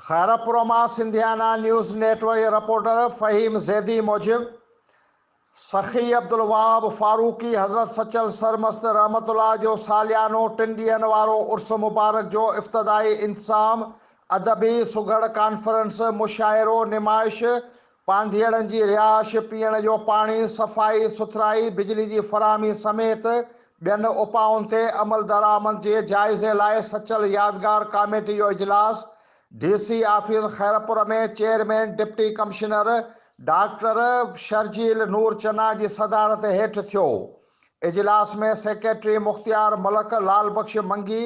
خيرپور مان Sindhiana news network جي reporter Fahim Zaidi موجب سخي عبدالوهاب فاروقي حضرت سچل سرمست رحمت الله جو ساليانو ٽن ڏينهن وارو عرس مبارڪ جو افتتاحي انتظام ادبي سگهڙ ڪانفرنس مشاعرو نمائش پانڌيئڙن جي رهائش، پيئڻ جو پاڻي، صفائي سٿرائي، بجلي جي فراهمي سميت ٻين اپائن تي عملدرآمد جي جائزي لاء سچل يادگار ڪاميٽي جو اجلاس D C office Khairpur ۾ chairman deputy commissioner doctor Sharjeel Noor Channa جي صدارت هيٺ ٿيو. اجلاس ۾ سيڪريٽري مختيار ملڪ، لعل بخش منگي،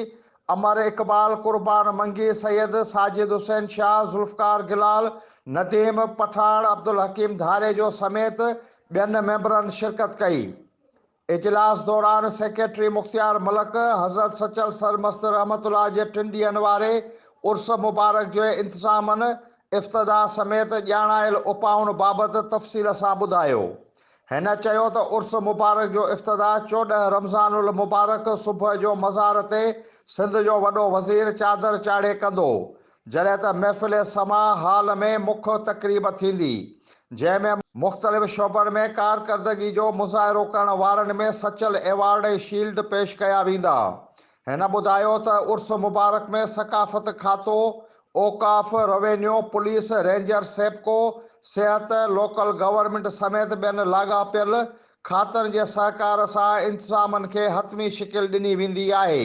امر اقبال، قربان منگي، سيد ساجد حسين شاهه، ذوالفقار گلال، نديم پٺاڻ، عبدالحڪيم ڌاريجو سميت ٻين ميمبرن شرڪت ڪئي. اجلاس دوران سيڪريٽري مختيار ملڪ حضرت سچل سرمست رحمة الله جي ٽن ڏينهن واري عرس مبارڪ جي انتظامن، افتتاح سميت ڄاڻايل اپائن بابت تفصيل سان ٻڌايو. هن چيو ته عرس مبارڪ جو افتتاح چوڏهن رمضان المبارڪ صبح جو مزار تي سنڌ جو وڏو وزير چادر چاڙهي ڪندو، جڏهن ته محفل سماع هال ۾ مک تقريب ٿيندي، جنهن ۾ مختلف شعبن ۾ ڪارڪردگي جو مظاهرو ڪرڻ وارن ۾ سچل ايوارڊ ۽ شيلڊ پيش ڪيا ويندا، هن ٻڌايو ته عرس مبارڪ ۾ ثقافت کاتو، اوقاف، روينيو، پوليس، رينجر، سيپڪو، صحت، لوڪل گورنمينٽ سميت ٻين لاڳاپيل کاتن جي سهڪار سان انتظامن کي حتمي شڪل ڏني ويندي آهي.